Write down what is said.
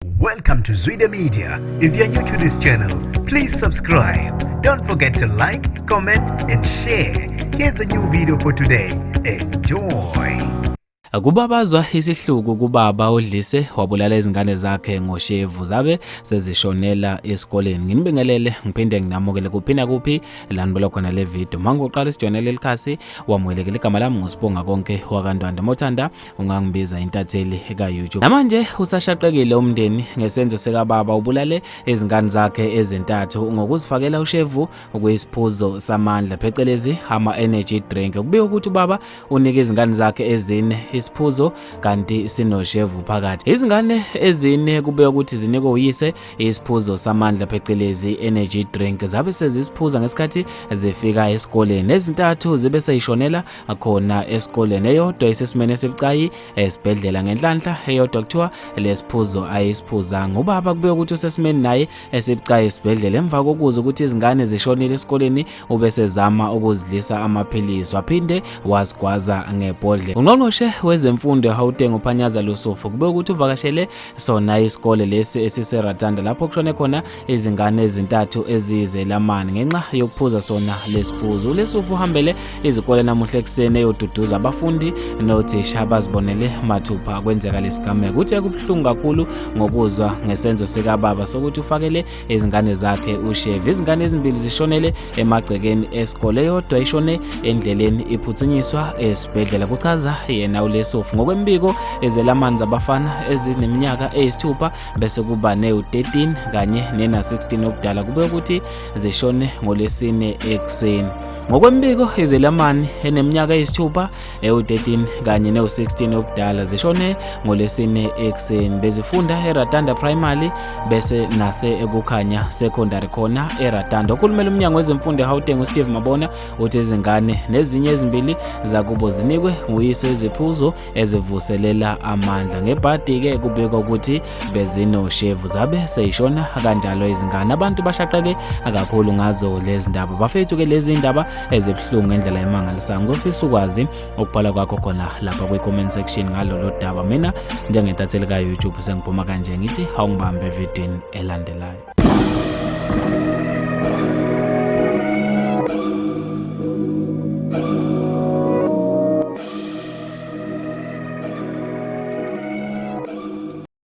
Welcome to Zwide Media. If you're new to this channel, please subscribe. Don't forget to like, comment and share. Here's a new video for today. Enjoy. Kubabazwa isihluku kubaba odlise wabulala izingane zakhe ngoshevu zabe sezishonela esikoleni. Nginibingelele ngiphinde nginamukele kuphina kuphi lanibela khona le video. Mangoqala isijonele likhasi wamwelekele igama lami ngusibonga konke wakandwanda mothanda ungangibiza intatheli ka-youtube namanje usashaqekile umndeni ngesenzo sekababa ubulale izingane zakhe ezintathu ngokuzifakela ushevu okuyisiphuzo samandla phecelezi ama-energy drink kubika ukuthi ubaba unike izingane zakhe ezine isiphuzo kanti sinoshevu phakathi izingane ezine kubika ukuthi zinikwe uyise isiphuzo samandla phecelezi energy drink zabe sezisiphuza ngesikhathi zifika esikoleni ezintathu zibe seyishonela akhona esikoleni eyodwa isesimene esibucayi esibhedlela ngenhlanhla eyodwa kuthiwa lesiphuzo ayisiphuza ngubaba kube ukuthi usesimeni naye esibucayi esibhedlela emva kokuzwa ukuthi izingane zishonile esikoleni ube sezama ukuzidlisa amaphilisi waphinde wazigwaza ngebhodlela ungqongqoshe wezemfundo eHauteng uPhanyaza Lusufu kube ukuthi uvakashele sona isikole lesi esiseRatanda lapho kushone khona izingane ezintathu eziyizelamani ngenxa yokuphuza sona lesiphuzo ulesufu uhambele izikole namuhla ekuseni eyoduduza abafundi nothisha abazibonele mathupha kwenzeka lesigameko uthe kubuhlungu kakhulu ngokuzwa ngesenzo sikababa sokuthi ufakele izingane zakhe uShevi. Izingane ezimbili zishonele emagcekeni esikole, yodwa ishone endleleni iphuthunyiswa esibhedlela, kuchaza yena uLesofu. Ngokwembiko ezelamani zabafana ezineminyaka eyisithupha bese kuba newu-13 kanye nena-16 obudala kube ukuthi zishone ngolwesine ekuseni. Ngokwembiko izelamani eneminyaka eyisithupha ewu-13 kanye newu-16 obudala zishone ngolesine ekuseni bezifunda eratanda primary bese nase ekukhanya secondary khona eratanda okhulumela umnyango wezemfundo ehauteng usteve mabona uthi izingane nezinye ezimbili zakubo zinikwe nguyise iziphuzo ezivuselela amandla ngebhadi-ke kubikwa ukuthi bezinoshevu zabe seyishona kanjalo izingane abantu bashaqeke akakhulu ngazo lezi ndaba bafethu ke lezi ndaba ezibuhlungu ngendlela emangalisayo ngizofisa ukwazi ukubhala kwakho khona lapha kwi-comment section ngalolo daba mina njengetatheli ka-youtube sengiphuma kanje ngithi hawungibambe evidweni elandelayo